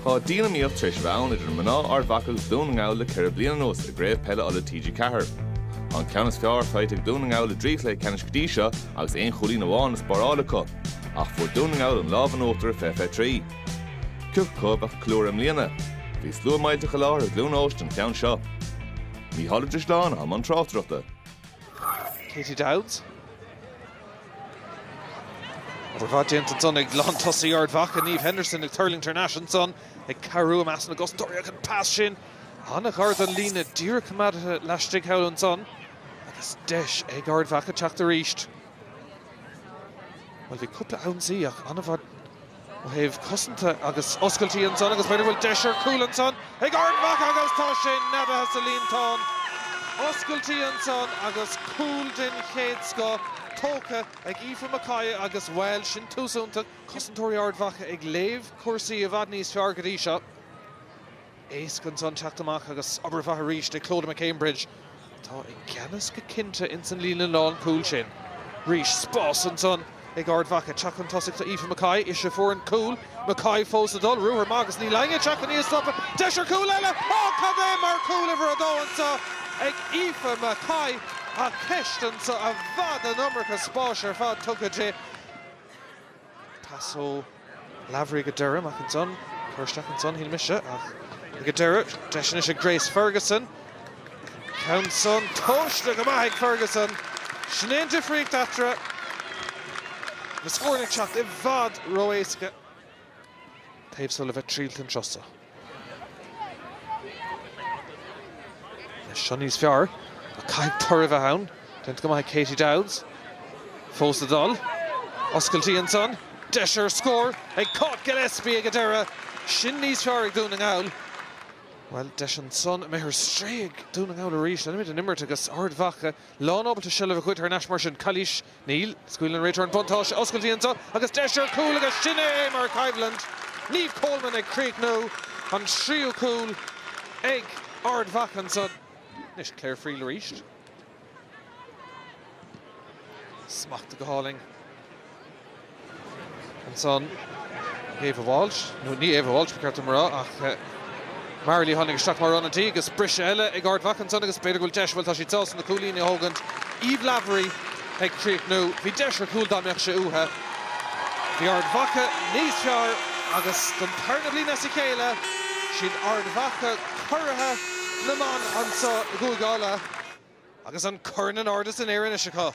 Tá dianiomaíocht tar éis bheith ann idir mná Ard Mhacha agus Dún na nGall le ceithre bliana anuas i gCraobh Peile Uladh TG4. Tá an ceann is fearr faighte ag Dún na nGall i dtrí chluiche ceannais go dtí seo agus aon chúilín amháin le spáráil acu, ach fuair Dún na nGall an lámh in uachtar ar Fiche Fiche Trí. Cé acu a bheadh ag ceiliúradh i mbliana? Bhí slua millteach i láthair i gCluain Eois don cheann seo. Mícheál Ó Drisleáin i mbun tráchtaireachta. Katie Dowds. Obair mhaith déanta ansan ag lántosaí Ard Mhacha, Niamh Henderson ag tuirlingt thar n-ais ansan, ag cabhrú i measc na gcosantóirí ach an pas sin an-ghar don líne, díreach coimeádaithe laistigh thall ansan agus deis ag Ard Mhacha teacht arís. Bhuel bhí cúpla ionsaí ach an-mhaith. ó thaobh cosanta agus oscailtí ansan agus b'fhéidir go bhfuil deis ar chúl ansan ag Ard Mhacha agus tá sé neadaithe sa líontán. Oscailtí ansan agus cúl den chéad scoth tógtha ag Aoife McCoy agus, bhuel, sin tús iontach. Cosantóirí Ard Mhacha ag léamh cúrsaí i bhfad níos fearr go dtí seo. Éasca ansan teacht amach agus obair mhaith arís ag Clodagh McCambridge atá i gceannas go cinnte ins an líne lán cúl sin. Arís spás ansan ag Ard Mhacha. Teacht chun tosaigh do Aoife McCoy. Ise a fuair an cúl. McCoy fós ag dul. Ruathar maith agus níl éinne ag teacht chun í a stopadh. Deis ar chúl eile! Ó cad é mar chúl uimhir a dó anso ag Aoife McCoy ach ceist anso i bhfad an iomarca spáis ar fad tugtha di. Pas ó Lavery go deireanach ansan, cur isteach ansan shíl mise, ach ag an deireadh, deis anois ag Grace Ferguson. An ceann san tomhaiste go maith ag Ferguson. Sin é an difríocht eatarthu. Na scóranna ag teacht i bhfad ró-éasca taobh so le bheith triailte an turas so. Seo níos fearr, ach caithfidh toradh a bheith ann. Déanta go maith ag Katie Dowds. Fós ag dul. Oscailtí ansan. Deis ar scór ag Cáit Gillespie ag an deireadh. Sin níos fearr ag Dún na nGall. Bhuel, deis ansan imithe ar strae ag Dún na nGall arís. Leanfaimid an imirt agus Ard Mhacha lán ábalta seilbh a ghoid thar n-ais mar sin. Calaois. Níl, scaoileann an réiteoir an buntáiste, oscailtí anso agus deis ar chúl agus sin é mar choimhlint Niamh Coleman ag críochnú an tríú cúl ag Ard Mhacha anso. Anois Clare Friel arís. Smachtaithe go hálainn. Ansan Ava Walsh, nó ní Ava Walsh ba cheart dom a rá ach Mary Lee a tháinig isteach mar ionadaí agus briseadh eile ag Ard Mhacha ansan agus b'fhéidir go bhfuil deis, bhuel tá siad sásta na cúilíní a thógaint. Eve Lavery ag críochnú, bhí deis ar chúl dá mbeadh sé uaithe. Bhí Ard Mhacha níos fearr agus don tarna bhliain as a chéile, is iad Ard Mhacha curaithe na mban anso i gCúige Uladh. Agus an corn in airde san aer anois acu.